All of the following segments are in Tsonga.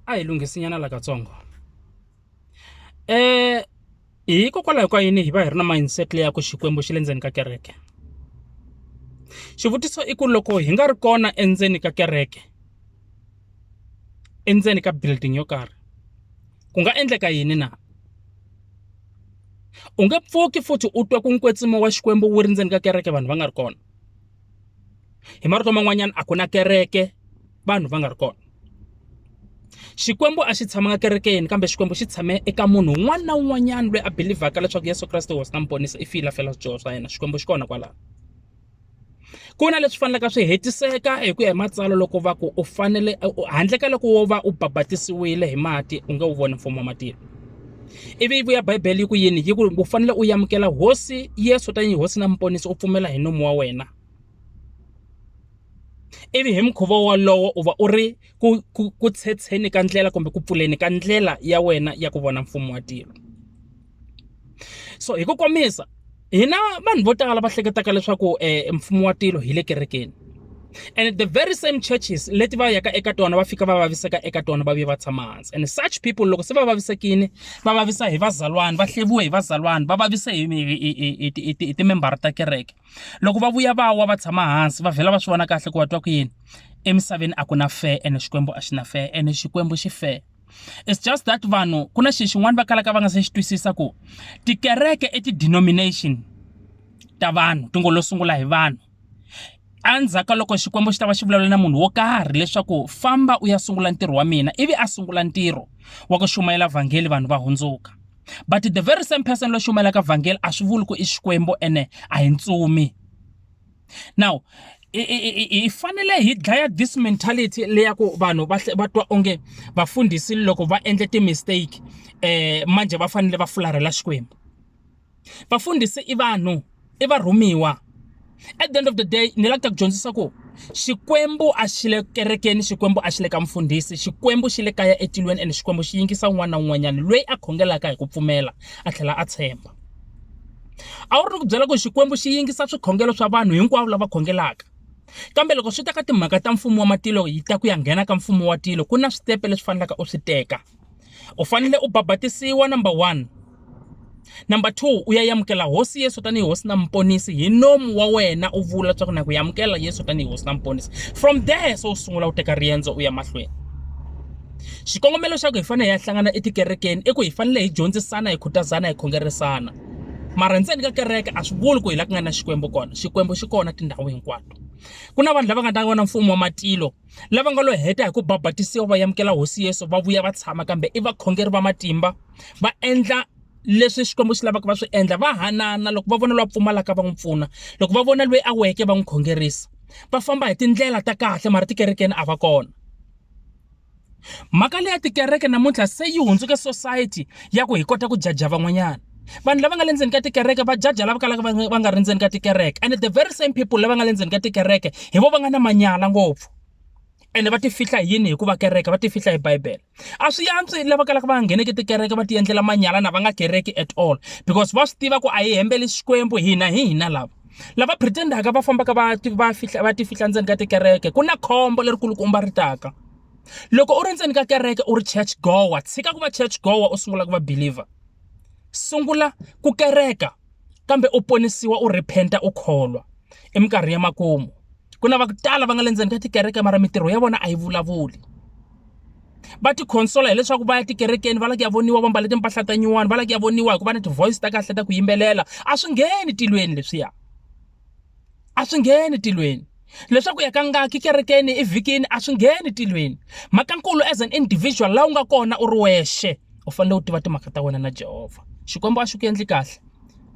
a hi lunghisinyana la katsongo um hikokwalaho ka yini hi va hi ri na mindset leya ku xikwembu xi le ndzeni ka kereke xivutiso i ku loko hi nga ri kona endzeni ka kereke endzeni ka building yo karhi ku nga endleka yini na u nge pfuki futhi u twa ku nkwetsimo wa xikwembu wu ri ndzeni ka kereke vanhu va nga ri kona hi marito man'wanyana a ku na kereke vanhu va nga ri kona xikwembu a xi tshamanga kerekeni kambe xikwembu xi tshame eka munhu un'wana na un'wanyana loyi a belivhaka leswaku yesu kreste hosi na muponisi i file a fela swidyoho swa yena xikwembu xi kona kwalaho ku na leswi fanelaka swi hetiseka hi ku ya hi matsalwa loko va ku u fanele handle ka loko wo va u babatisiwile hi mati u nge wu voni mfumo wa matilo ivi yi vuya bibele yi ku yini yi ku u fanele u amukela hosi yesu tanihi hosi na muponisi u pfumela hi nomu wa wena ivi hi mukhuva wolowo u va u ri ku, ku, ku tshetsheni ka ndlela kumbe ku pfuleni ka ndlela ya wena ya ku vona mfumo wa tilo so hi ku komisa hina vanhu vo tala va hleketaka leswaku um mfumo wa tilo hi le kerekeni and the very same churches leti va yaka eka tona va fika va vaviseka eka tona va vuye va tshama hansi and such people loko se va vavisekile va vavisa hi vazalwana va hleviwe hi vazalwana va vavise hi hi timembara ta kereke loko va vuya va wa va tshama hansi va vhela va swi vona kahle ku va twa ku yini emisaveni a ku na fair and xikwembu a xi na fair and xikwembu xi fair it's just that vanhu ku na xi xin'wana va kalaka va nga se xi twisisa ku tikereke i ti-denomination ta vanhu ti ngo lo sungula hi vanhu endzhaku ka loko xikwembu xi ta va xi vulavula na munhu wo karhi leswaku famba u ya sungula ntirho wa mina ivi a sungula ntirho wa ku xumayela vhangeli vanhu va hundzuka but the very same person loyi xumayelaka vhangeli a swi vuli ku i xikwembu ene a hi ntsumi now hi fanele hi dlaya this mentality leya ku vanhu va va twa onge vafundhisi loko va endle ti-mistake eh manje va fanele va fularhela xikwembu vafundhisi i vanhu i varhumiwa at the end of the day ni lava ku dyondzisa ku xikwembu a xi le kerekeni xikwembu a xi le ka mfundhisi xikwembu xi le kaya etilweni ene xikwembu xi yingisa un'wana na un'wanyana loyi a khongelaka hi ku pfumela a tlhela a tshemba a wu ri ni ku byela ku Xikwembu xi yingisa swikhongelo swa vanhu hinkwavo lava khongelaka kambe loko swi ta ka timhaka ta mfumo wa matilo yi ta ku ya nghena ka mfumo wa tilo ku na switepe leswi fanelaka u swi teka u fanele u babatisiwa number one number two u ya yamukela hosi yesu tanihi hosi na muponisi hi nomu wa wena u vula leswaku na ku yamukela yesu tanihi hosi na muponisi from there se u sungula u teka riendzo u ya mahlweni Xikongomelo xa ku hi fanele hi ya hlangana etikerekeni i ku hi fanele hi dyondzisana, hi khutazana, hi khongerisana. Mara ndzeni ka kereke a swi vuli ku hi laha ku nga na Xikwembu kona, Xikwembu xi kona tindhawu hinkwato. Ku na vanhu lava nga ta vona mfumo wa matilo, lava nga lo heta hi ku babatisiwa va amukela Hosi Yesu va vuya va tshama kambe i vakhongeri va matimba, va endla leswi Xikwembu xi lavaka va swi endla, va hanana loko va vona loyi a pfumalaka va n'wi pfuna, loko va vona loyi a weke va n'wi khongerisa. Va famba hi tindlela ta kahle mara tikerekeni a va kona. mhaka leya tikereke namuntlha se yi hundzuke society ya ku hi kota ku jaja van'wanyana vanhu lava nga le ndzeni ka tikereke va jaja lava kalaka va nga ri ndzeni ka tikereke and the very same people lava nga le ndzeni ka tikereke hi vo va nga na manyala ngopfu ene va ti fihla hi yini hikuva kereke va ti fihla hi bibele a swi yantswi lava kalaka va nga ngheneki tikereke va ti endlela manyala na va nga kereki at all because va swi tiva ku a hi hembeli xikwembu hina hi hina lava lava pretend-aka va fambaka va va fihla va ti fihla ndzeni ka tikereke ku na khombo lerikulukumba ri taka loko u ri ndzeni ka kereke u ri church goer tshika ku va church goer u sungula ku va believer sungula ku kereka kambe u ponisiwa u rephenta u kholwa i minkarhi ya makumu ku na va ku tala va nga le ndzeni ka tikereke mara mintirho ya vona a yi vulavuli va ti consola hileswaku va ya tikerekeni va lava ku ya voniwa va mbale timpahla ta nyuwani va lava ku ya voniwa hikuva ni ti-voice ta kahle ta ku yimbelela a swi ngheni tilweni leswiya a swi ngheni tilweni leswaku ya ka ngaki kerekeni evhikini a swi ngheni tilweni mhakankulu as an individual laha u nga kona u ri wexe u fanele u tiva timhaka ta wena na jehovha xikwembu a xi ku endli kahle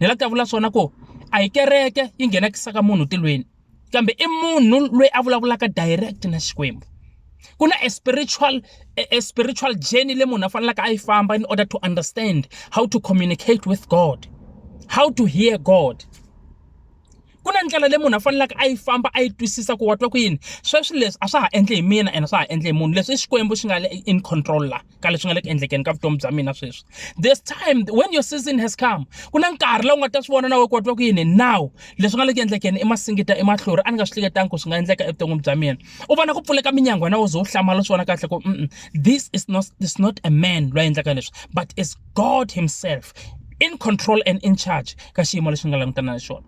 ni la ku ya vula swona ku a yi kereke yi nghenakisaka munhu tilweni kambe i munhu loyi a vulavulaka direct na Xikwembu ku na a spiritual a spiritual journey le munhu a fanelaka a yi famba in order to understand how to communicate with God how to hear God ku na ndlela leyi munhu a faneleke a yi famba a yi twisisa ku wa twa ku yini sweswi leswi a swa ha endli hi mina ene swa ha endli hi munhu leswi i Xikwembu xi nga le in control la. ka leswi nga le ku endlekeni ka vutomi bya mina sweswi this time when your season has come ku na nkarhi lowu nga ta swi vona na we ku watwa ku yini now leswi nga le ku endlekeni i masingita i mahlori a ni nga swi hleketangi ku swi nga endleka evuton'wini bya mina u vona ku pfuleka minyangwa na wo ze u hlamala u swi vona kahle ku this is not, is not a man loyi a endlaka leswi but is god himself in control and in charge ka xiyimo lexi ni nga langutana na xona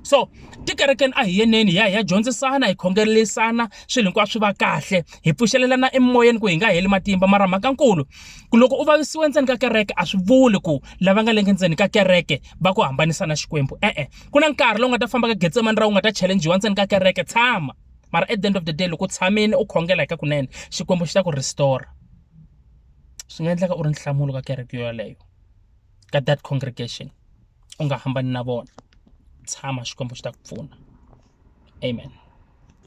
so tikerekeni a hi yeneni hi ya hi ya dyondzisana hi khongelelisana swilo hinkwaswo swi va kahle hi pfuxelelana emoyeni ku hi nga heli matimba mara mhakankulu ku loko u vavisiwe endzeni ka kereke a swi vuli ku lava nga lenge ndzeni ka kereke va ku hambanisa na xikwembu e-e ku na nkarhi lowu nga ta famba ka getsemani ra u nga ta challengiwa ndzeni ka kereke tshama mara at the end of the day loko u tshamile u khongela hi ka kunene xikwembu xi ta ku restore swi nga endleka u ri nhlamulo ka kereke yoleyo ka that congregation u nga hambani na vona tshama Xikwembu xi ta ku pfuna amen.